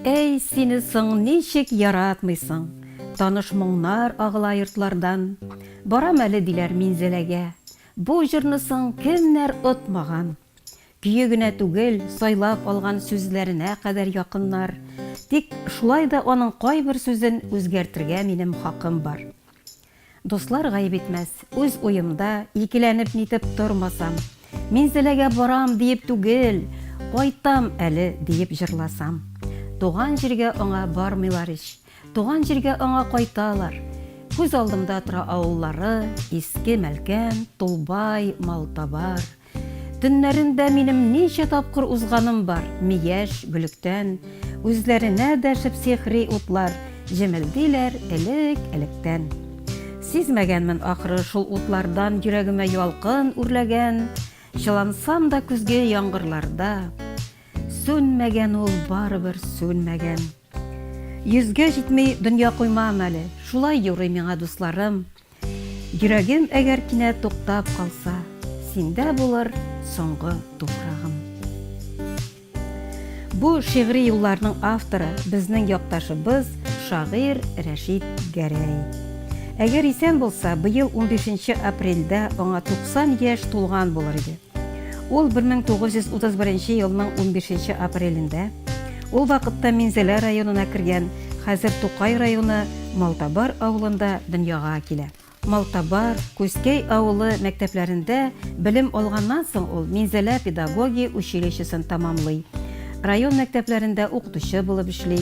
Әй, сине соң ничек яратмыйсың! Таныш моңнар агыла йортлардан. Барам әле, диләр Минзәләгә. Бу җырны соң кемнәр отмаган! Көе генә түгел, сайлап алган сүзләренә кадәр якыннар. Тик шулай да аның кайбер сүзен үзгәртергә минем хакым бар. Дуслар гаеп итмәс, үз уемда, икеләнеп-нитеп тормасам. Мин Зеләгә барам диеп түгел, кайтам әле диеп җырласам. Туган җиргә аңа бармыйлар ич, туган җиргә аңа кайталар. Күз алдымда тора авыллары, Иске Мәлкән, Тулбай, Малтабар. Төннәрендә минем ничә тапкыр узганым бар, Мияш, Гөлектән, үзләренә дәшеп сихри утлар, Җемелдиләр элек, электән. Сизмәгәнмен, ахры, шул утлардан Йөрәгемә ялкын үрләгән, Чылансам да көзге яңгырларда, Сүнмәгән ул, барыбер сүнмәгән. Йөзгә җитми дөнья коймам әле, Шулай юрый миңа дусларым. Йөрәгем әгәр кинәт туктап калса, синдә булыр соңгы туфрагым. Бу шигъри юлларның авторы безнең якташыбыз, шагыйрь Рәшит Гәрәй. Әгәр исән булса, быел 15 апрельдә аңа 90 яшь тулган булыр иде. Ул 1931 елның 15 апрелендә, ул вакытта Минзәлә районына кергән, хәзер Тукай районы Малтабар авылында дөньяга килә. Малтабар, Күзкәй авылы мәктәпләрендә белем алганнан соң ул Минзәлә педагогия училищесын тәмамлый, район мәктәпләрендә укытучы булып эшли.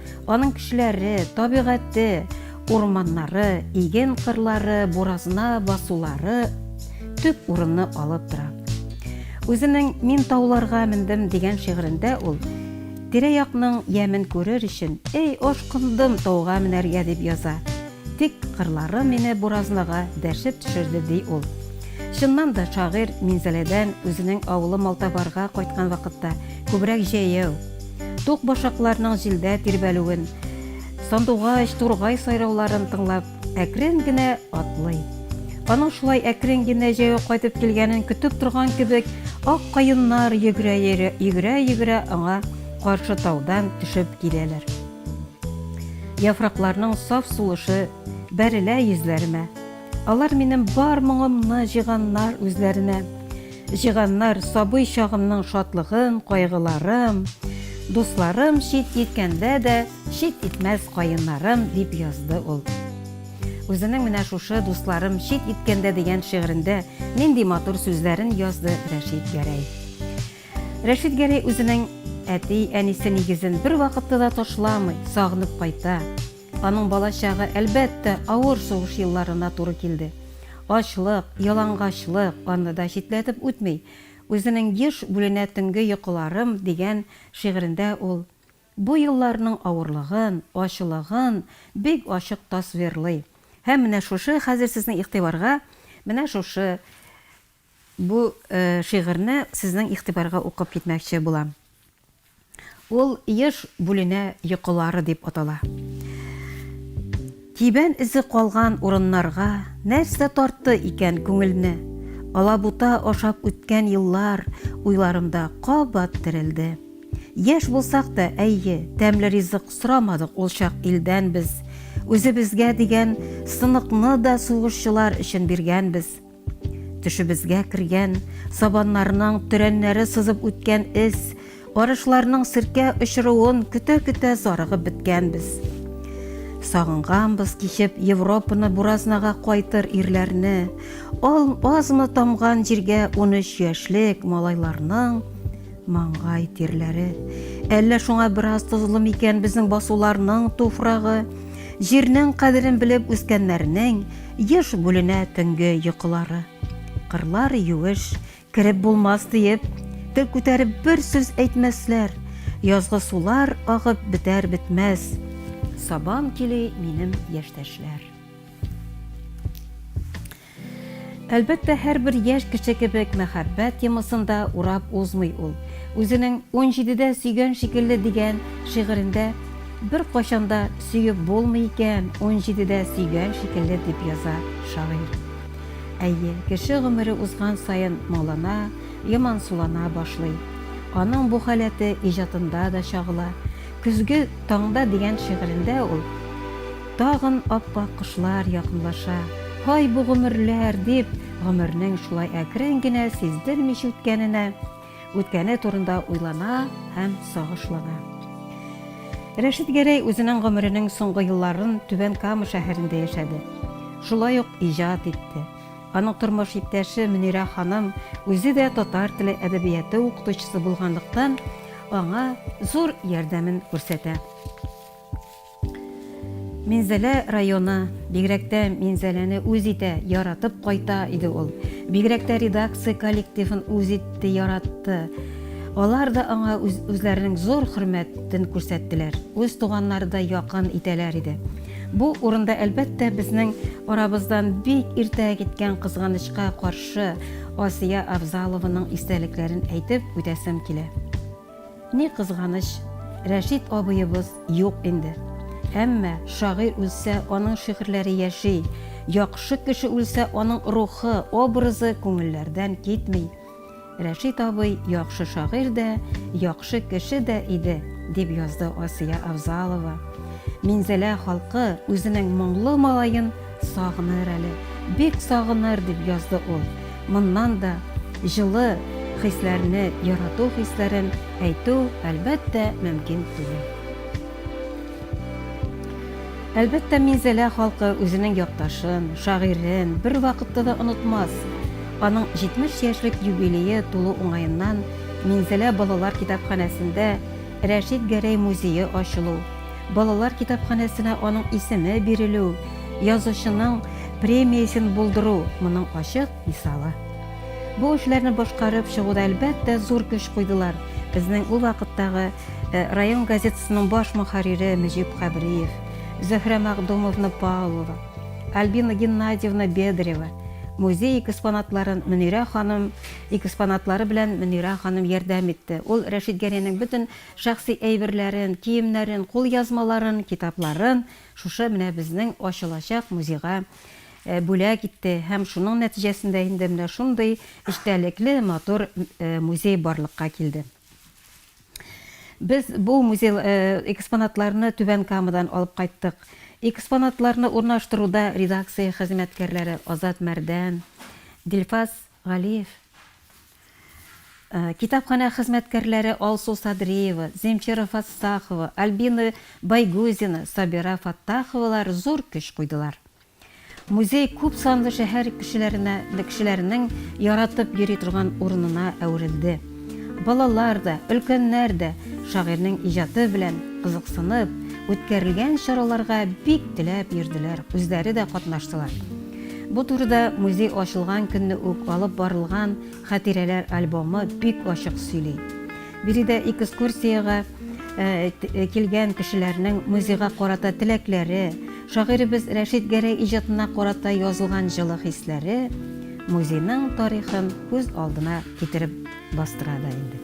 Аның кешеләре, табигате, урманнары, иген кырлары, буразна басулары төп урынны алып тора. Үзенең Мин тауларга мендем дигән шигырендә ул тирә-якның ямен күрер өчен, эй, ашкындым тауга менәргә дип яза. Тик кырлары мине буразнаға дәшеп төшерде ди ул. Чыннан да шагыйрь Минзәләдән үзенең авылы Малтабарга кайткан вакытта күбрәк җәяү, Тук башакларның җилдә тирбәлүен, сандугач, тургай сайрауларын тыңлап, әкрен генә атлый. Аның шулай әкрен генә җәяү кайтып килгәнен көтеп торган кебек, ак каеннар йөгерә-йөгерә аңа каршы таудан төшеп киләләр. Яфракларның саф сулышы бәрелә йөзләремә. Алар минем бар моңымны җыйганнар үзләренә. Җыганнар, сабый чагымның шатлыгын, кайгыларым, Дусларым чит иткәндә дә, чит итмәс каеннарым, дип язды ул. Үзенең менә шушы Дусларым чит иткәндә дигән шигырендә нинди матур сүзләрен язды Рәшит Гәрәй. Рәшит Гәрәй үзенең әти-әнисе нигезен бервакытта да ташламый, сагынып кайта. Аның балачагы, әлбәттә, авыр сугыш елларына туры килде. Ачлык, ялангачлык аны да читләтеп үтми. Үзенең Еш бүленә төнге йокыларым дигән шигырендә ул бу елларның авырлыгын, ачлыгын бик ачык тасвирлый. Һәм менә шушы хәзер сезнең игътибарга менә шушы Бу шигырьне сезнең игътибарга укып китмәкче булам. Ул Еш бүленә йокылары дип атала. Тибән эзе калган урыннарга нәрсә тартты икән күңелне? Алабута ашап үткән еллар уйларымда кабат терелде. Яшь булсак та, әйе, тәмле ризык сорамадык ул чак илдән без. Үзебезгә дигән сыныкны да сугышчылар өчен биргәнбез. Төшебезгә кергән, сабаннарның төрәннәре сызып үткән эз, арышларның серкә очыруын көтә-көтә зарыгып беткәнбез. Сагынганбыз кичеп Европаны буразнага кайтыр ирләрне, ал азмы тамган җиргә 13 яшьлек малайларның Маңгай тирләре. Әллә шуңа бераз тозлы микән безнең басуларның туфрагы? Җирнең кадерен белеп үскәннәрнең еш бүленә төнге йокылары. Кырлар юеш, кереп булмас диеп, тел күтәреп бер сүз әйтмәсләр. Язгы сулар агып бетәр бетмәс. Сабам кили минем яшьтәшләр. Әлбәттә, һәрбер яшь кеше кебек мәхәббәт темасын да урап узмый ул. Үзенең Унҗидедә сөйгән шикелле дигән шигырендә Беркайчан да сөеп булмый икән, унҗидедә сөйгән шикелле, дип яза шагыйрь. Әйе, кеше гомере узган саен моңлана, ямансулана башлый. Аның бу халәте иҗатында да чагыла. Көзге таңда дигән шигырендә ул. Тагын ап-ак кышлар якынлаша. Һай, бу гомерләр! дип, гомернең шулай әкрен генә, сиздермичә үткәненә, үткәне турында уйлана һәм сагышлана. Рәшит Гәрәй үзенең гомеренең соңгы елларын Түбән Кама шәһәрендә яшәде. Шулай ук иҗат итте. Аның тормыш иптәше Мөнирә ханым үзе дә татар теле әдәбияты укытучысы булганлыктан, аңа зур ярдәмен күрсәтә. Минзәлә районы, бигрәк тә Минзәләне үз итә, яратып кайта иде ул. Бигрәк тә редакция коллективын үз итте, яратты. Алар да аңа үзләренең зур хөрмәтен күрсәттеләр, үз туганнарыдай якын итәләр иде. Бу урында, әлбәттә, безнең арабыздан бик иртә киткән кызганычка каршы, Асия Авзалованың истәлекләрен әйтеп үтәсем килә. Ни кызганыч, Рәшит абыебыз юк инде. Әмма шагыйрь үлсә, аның шигырьләре яши, яхшы кеше үлсә, аның рухы, образы күңелләрдән китми. Рәшит абый яхшы шагыйрь дә, яхшы кеше дә иде, дип язды Асия Авзалова. Минзәлә халкы үзенең моңлы малаен Сагыныр әле, бик сагыныр, дип язды ул. Моннан да җылы хисләрне, ярату хисләрен әйтү, әлбәттә, мөмкин түгел. Әлбәттә, Минзәлә халкы үзенең якташын, шагыйрен бервакытта да онытмас. Аның 70 яшьлек юбилее тулу уңаеннан Минзәлә балалар китапханәсендә Рәшит Гәрәй музее ачылу, Балалар китапханәсенә аның исеме бирелү, язучының премиясен булдыру моның ачык мисалы. Бу эшләрне башкарып чыгуда, әлбәттә, зур көч куйдылар безнең ул вакыттагы район газетасының баш мөхәррире Мөҗип Хәбриев, Зөһрә Мәгъдумовна Павлова, Альбина Геннадьевна Бедрева, музей экспонатларын Мөнирә ханым экспонатлары белән Мөнирә ханым ярдәм итте. Ул Рәшит Гәрәйнең бөтен Шәхси әйберләрен, киемнәрен, кулъязмаларын, китапларын шушы менә безнең ачылачак музейга бүләк итте һәм шуның нәтиҗәсендә инде менә шундый эчтәлекле, матур музей барлыкка килде. Без бу музей экспонатларны Түбән Камадан алып кайттык. Экспонатларны урнаштыруда редакция хезмәткәрләре Азат Мәрдән, Дилфаз Галиев, китапханә хезмәткәрләре Алсу Садриева, Земфира Фассахова, Альбина Байгузина, Сабира Фаттаховалар зур көч куйдылар. Музей күп санлы шәһәр кешеләренә, кешеләренең яратып йөри торган урынына әверелде. Балалар да, өлкәннәр дә шагыйрьнең иҗаты белән кызыксынып, үткәрелгән чараларга бик теләп йөрделәр, үзләре дә катнаштылар. Бу турыда музей ачылган көнне үк алып барылган хатирәләр альбомы бик ачык сөйли. Биредә экскурсиягә килгән кешеләрнең музейга карата теләкләре, шагыйребез Рәшит Гәрәй иҗатына карата язылган җылы хисләре, музейның тарихын күз алдына китереп бастыра да инде.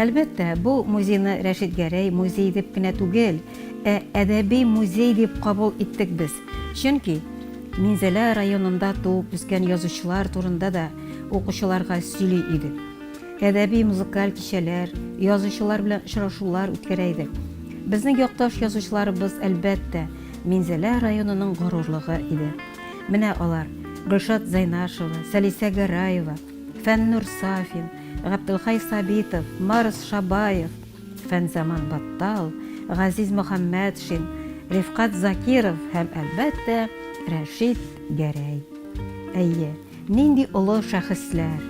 Әлбәттә, бу музейны Рәшит Гәрәй музей дип кенә түгел, ә әдәби музей дип кабул иттек без. Чөнки Минзәлә районында туып үскән язучылар турында да укучыларга сөйли идек. Әдәби музыкаль кичәләр, язучылар белән очрашулар үткәрә идек. Безнең якташ язучыларыбыз, әлбәттә, Минзәлә районының горурлыгы иде. Менә алар, Гөлшат Зайнашева, Сәлисә Гәрәева, Фәннүр Сафин, Габделхай Сабитов, Марс Шабаев, Фәнзаман Баттал, Газиз Мөхәммәтшин, Рифкать Закиров һәм, әлбәттә, Рәшит Гәрәй. Әйе, нинди олы шәхесләр!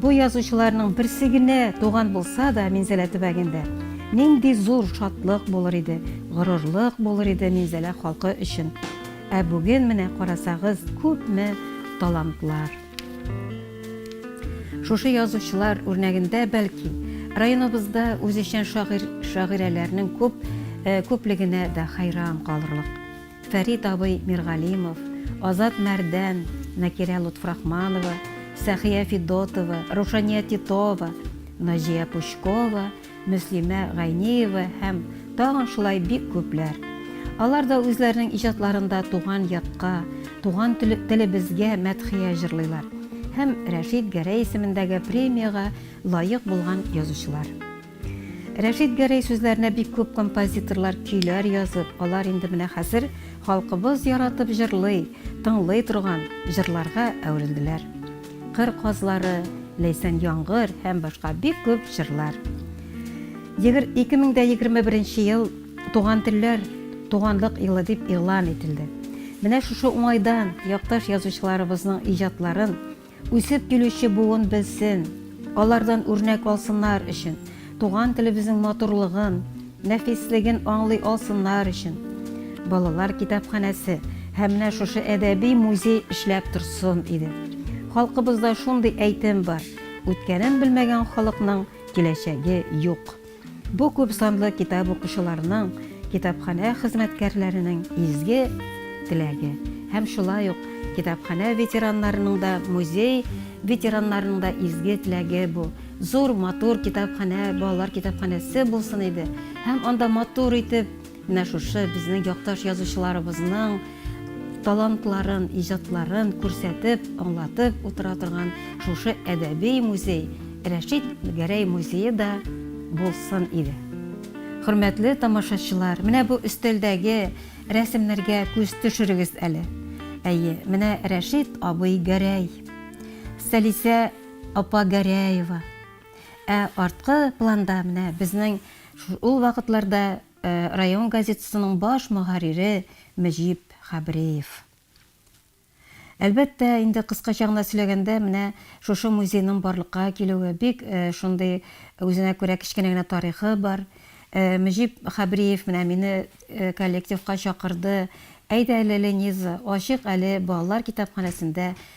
Бу язучыларның берсе генә туган булса да Минзәлә төбәгендә, нинди зур шатлык булыр иде, горурлык булыр иде Минзәлә халкы өчен! Ә бүген менә карасагыз, күпме талантлар. Шушы язучылар үрнәгендә, бәлки, районыбызда үзешчән шагыйрь, шагыйрәләрнең күп, күплегенә дә хәйран калырлык. Фәрит абый Миргалимов, Азат Мәрдән, Накирә Лотфрахманова, Сәхия Федотова, Рушания Титова, Наҗия Пучкова, Мөслимә Гайниева һәм тагын шулай бик күпләр. Алар да үзләренең иҗатларында туган якка, туган телебезгә мәдхия җырлыйлар һәм Рәшит Гәрәй исемендәге премиягә лаек булган язучылар. Рәшит Гәрәй сүзләренә бик күп композиторлар көйләр язып, алар инде менә хәзер халкыбыз яратып җырлый, тыңлый торган җырларга әверелделәр. Кыр казлары, Ләйсән яңгыр һәм башка бик күп җырлар. 2021 ел Туган телләр, туганлык елы дип игълан ителде. Менә шушы уңайдан якташ язучыларыбызның иҗатларын үсеп килүче буын белсен, алардан үрнәк алсыннар өчен Туган телебезнең матурлыгын, нәфислеген аңлый алсыннар өчен, балалар китапханәсе һәм менә шушы әдәби музей эшләп торсын иде. Халкыбызда шундый әйтем бар, Үткәнен белмәгән халыкның киләчәге юк. Бу күп санлы китап укучыларның, китапханә хезмәткәрләренең изге теләге. Һәм шулай ук китапханә ветераннарының да, музей ветераннарының да изге теләге бу. Зур, матур китапханә, балалар китапханәсе булсын иде. Һәм анда матур итеп менә шушы безнең якташ язучыларыбызның талантларын, иҗатларын күрсәтеп, аңлатып утыра торган шушы әдәби музей, Рәшит Гәрәй музее да булсын иде. Хөрмәтле тамашачылар, менә бу өстәлдәге рәсемнәргә күз төшерегез әле. Әйе, менә Рәшит абый Гәрәй. Сәлисә Апа Гәрәева. Ә арткы планда менә безнең ул вакытларда район газетасының баш мөхәррире Мөҗип Хәбриев. Әлбәттә, инде кыскача гына сөйләгәндә, менә шушы музейның барлыкка килүе, бик шундый үзенә күрә кечкенә генә тарихы бар. Мөҗип Хәбриев менә мине коллективка чакырды, Әйдә әле, Лениза, ачыйк әле балалар китапханәсендә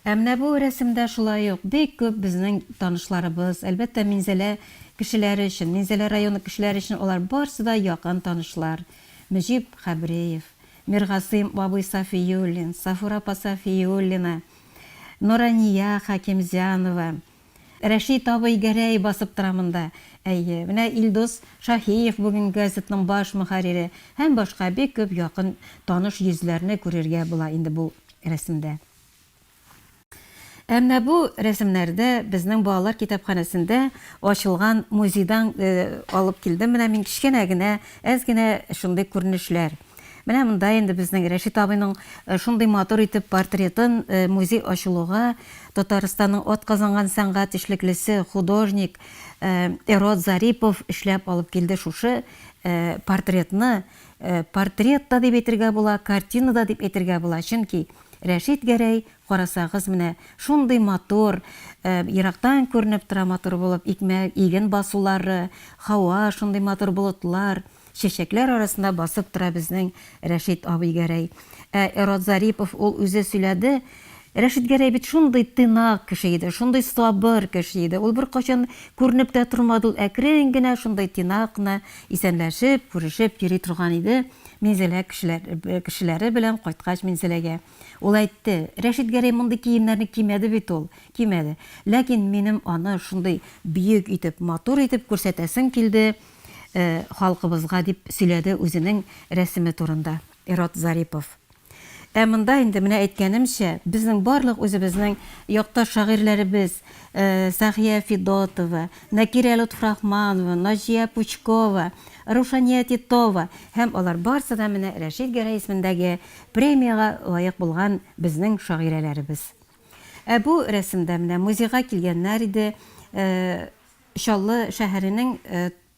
Ә менә бу рәсемдә шулай ук бик күп безнең танышларыбыз, әлбәттә, Минзәлә кешеләре өчен, Минзәлә районы кешеләре өчен алар барсы да якын танышлар, Мөҗип Хәбриев, Миргасыйм абый Сафиуллин, Сафура апа Сафиуллина, Нурания Хәкимзянова, Рәшит абый Гәрәй басып тора монда. Әйе, менә Илдус Шаһиев бүгенге газетның баш мөхәррире һәм башка бик күп якын таныш йөзләрне күрергә була инде бу рәсемдә. Ә менә бу рәсемнәрдә безнең балалар китапханәсендә ачылган музейдан алып килдем менә мин кечкенә генә, әз генә шундый күренешләр. Менә монда инде безнең Рәшит абыйның шундый матур итеп портретын музей ачылуга Татарстанның атказанган сәнгать эшлеклесе, художник Эрод Зарипов эшләп алып килде шушы портретны. Портрет та дип әйтергә була, картина да дип әйтергә була, чөнки Рәшит Гәрәй, карасагыз, менә шундый матур, ерактан күренеп тора матур булып, икмәк, иген басулары, һава, шундый матур болытлар, Чәчәкләр арасында басып тора безнең Рәшит абый Гәрәй. Ә Эрот Зарипов, ул үзе сөйләде, Рәшит Гәрәй бит шундый тыйнак кеше иде, шундый сабыр кеше иде, ул беркайчан күренеп тә тормады, ул әкрен генә шундый тыйнак кына исәнләшеп, күрешеп йөри торган иде Минзәлә кешеләре белән кайткач Минзәләгә. Ул әйтте, Рәшит Гәрәй мондый киемнәрне кимәде бит ул, кимәде. Ләкин минем аны шундый бөек итеп, матур итеп күрсәтәсем килде, халкыбызга, дип сөйләде үзенең рәсеме турында Ират Зарипов. Ә монда инде, менә әйткәнемчә, безнең барлык үзебезнең якташ шагыйрьләребез, Сәхия Федотова, Нәкирә Лотфрахманова, Наҗия Пучкова, Рушания Титова һәм алар барсы да менә Рәшит Гәрәй исемендәге премиягә лаек булган безнең шагыйрәләребез. Ә бу рәсемдә менә музейга килгәннәр иде, Чаллы шәһәренең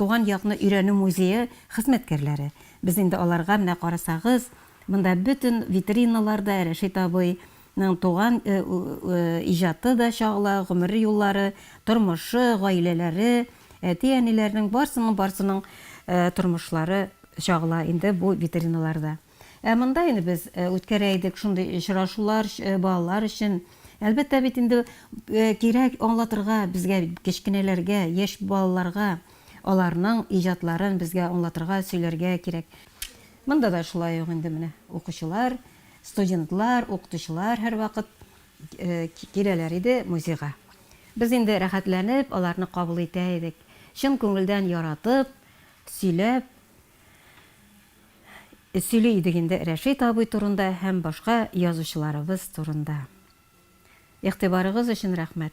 Туган якны өйрәнү музее хезмәткәрләре, без инде аларга, менә карасагыз, монда бөтен витриналар да Рәшит абыйның туган иҗаты да чагыла, гомер юллары, тормышы, гаиләләре, әти-әниләренең барсының-барсының тормышлары чагыла инде бу витриналарда. Ә монда инде без үткәрә идек шундый очрашулар балалар өчен. Әлбәттә бит инде кирәк аңлатырга безгә кечкенәләргә, яшь балаларга аларның иҗатларын безгә аңлатырга, сөйләргә кирәк. Монда да шулай ук инде менә укучылар, студентлар, укытучылар һәрвакыт киләләр иде музейга. Без инде рәхәтләнеп аларны кабул итә идек, чын күңелдән яратып, сөйләп. Сөйли идек инде Рәшит абый турында һәм башка язучыларыбыз турында. Игътибарыгыз өчен рәхмәт.